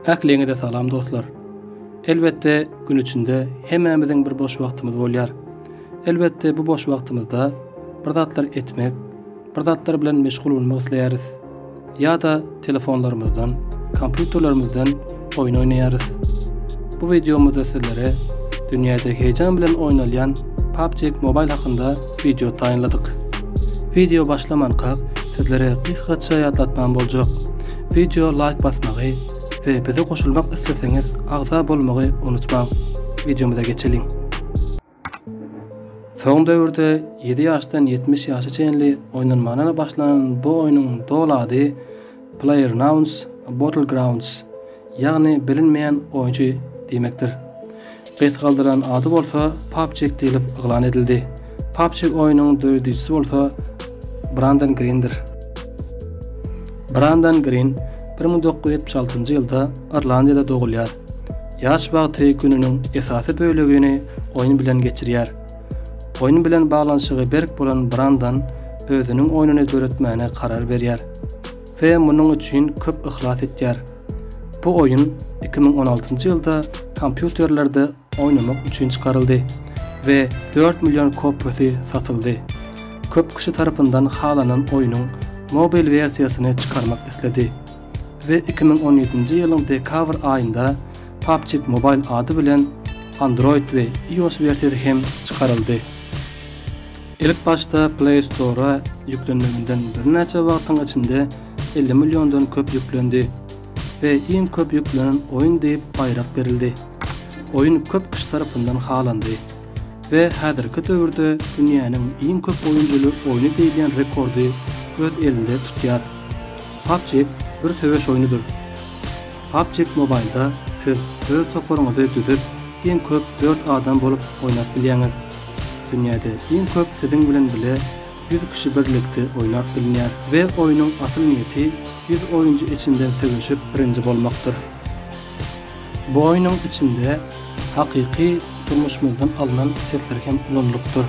Ähliňize salam dostlar. Elbetde gün içinde hemmämiziň bir boş wagtymyz bolýar. Elbetde bu boş wagtymyzda bir zatlar etmek, bir zatlar bilen meşgul bolmak isleýäris. Ýa-da telefonlarymyzdan, kompýuterlerimizden oýun oýnaýarys. Bu wideomyzda sizlere dünýäde heýjan bilen oýnalýan PUBG Mobile hakynda wideo taýynladyk. Wideo başlamanka sizlere gysgaça ýatlatmam boljak, wideo laýk basmagy we bize goşulmak isleseňiz agza bolmagy unutmaň. Wideomyza geçeliň. Soň döwürde ýedi ýaşdan ýetmiş ýaşa çenli oýnalmana başlanan bu oýnuň doly ady PlayerUnknown's Battlegrounds, ýagny Bilinmeýän Oýunçy diýmekdir. Gysgaldylan ady bolsa PUBCIG diýlip yglan edildi. PUBCIG oýnuň döredijisi bolsa Brandon Grindir. Brandon Grin bir müň dokuz ýüz ýetmiş altynjy ýylda Irlandiýada dogulýar. Ýaş wagty gününiň esasy bölegini oýun bilen geçirýär. Oýun bilen baglanyşygy berk bolan Brandan özüniň oýnuny döretmäne karar berýär we munuň üçin köp yhlas etýär. Bu oýun iki müň on altynjy ýylda kompýuterlerde oýnamak üçin çykaryldy we dört million kopiýasy satyldy. Köp kişi tarapyndan halanan oýnuň mobil wersiýasyny çykarmak isledi. we iki müň on ýedinji ýylyň dekabr aýynda PUBG Mobile ady bilen Android we iOS wersiýasy hem çykaryldy. Ilk başda Play Store-a ýüklenmeginden birnäçe wagtyň içinde elli milliondan köp ýüklendi we iň köp ýüklenen oýun diýip baýrak berildi. Oýun köp kişi tarapyndan halandy we häzirki döwürde dünýäniň iň köp oýunjyly oýny diýilýän rekordy öz elinde tutýar. PUBG bir söweş oýnudyr. PUBG Mobile-da siz öz toparyňyzy düzüp, iň köp dört adam bolup oýnap bilýäňiz. Dünýäde iň köp siziň bilen bile ýüz kişi birlikde oýnap bilnýär. We oýnuň asyl niýeti ýüz oýunjy içinden söweşip birinji bolmakdyr. Bu oýnuň içinde hakyky durmuşymyzdan alnan sesler hem ulanylypdyr.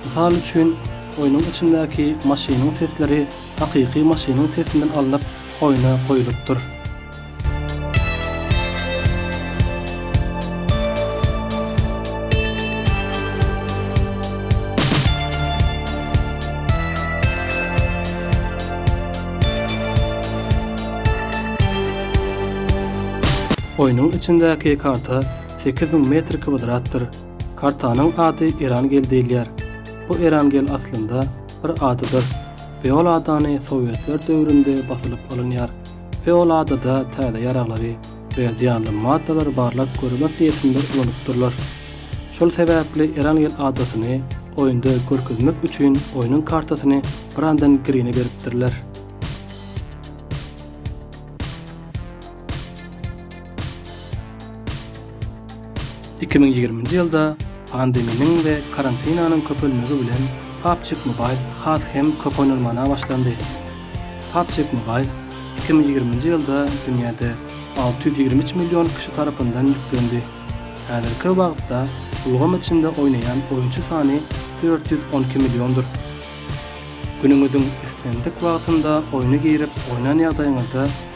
Mysal üçin, oýnuň içindäki maşynyň sesleri hakyky maşynyň sesinden alnyp oýna goýlupdyr. Oýnuň içindäki karta sekiz müň metr kwadratdyr. Kartanyň ady Erangel diýilýär. Bu Erangel aslynda bir adadyr. Feoladany sowetler döwründe basylyp alynýar. Feoladada täze ýaraglary we zyýanly maddalary barlap görmek niýetinde ulanypdyrlar. Şol sebäpli Erangel adasyny oýunda görkezmek üçin oýnuň kartasyny Brandon Grine beripdirler. Iki müň ýigriminji ýylda pandeminiň we karantinanyň köpelmegi bilen PUBG Mobile has hem köp oýnalmana başlandy. PUBG Mobile iki müň ýigriminji ýylda dünýäde alty ýüz ýigrimi üç million kişi tarapyndan ýüklendi. Häzirki wagtda ulgam içinde oýnaýan oýunçy sany dört ýüz on iki milliondyr. Günüňiziň islendik wagtynda oýna girip oýnan ýagdaýyňyzda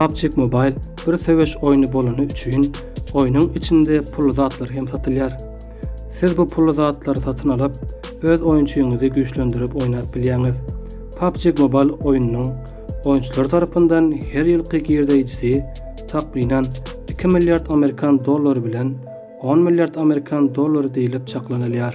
PUBG Mobile bir söweş oýny bolany üçin, oýnuň içinde pully zatlar hem satylýar. Siz bu pully zatlary satyn alyp, öz oýunçyňyzy güýçlendirip oýnap bilýäňiz. PUBG Mobile oýnunyň oýunçylary tarapyndan her ýylky girdeýjisi, takmynan, iki milliard amerikan dollary bilen on milliard amerikan dollary diýlip çaklanylýar.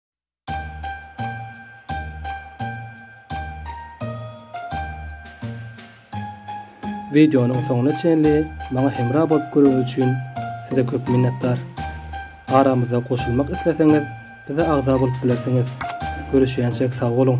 Wideonyň soňuna çenli maňa hemra bolup göreniňiz üçin size köp minnetdar. Aramyza goşulmak isleseňiz bize agza bolup bilersiňiz. Görüşýänçek sag boluň.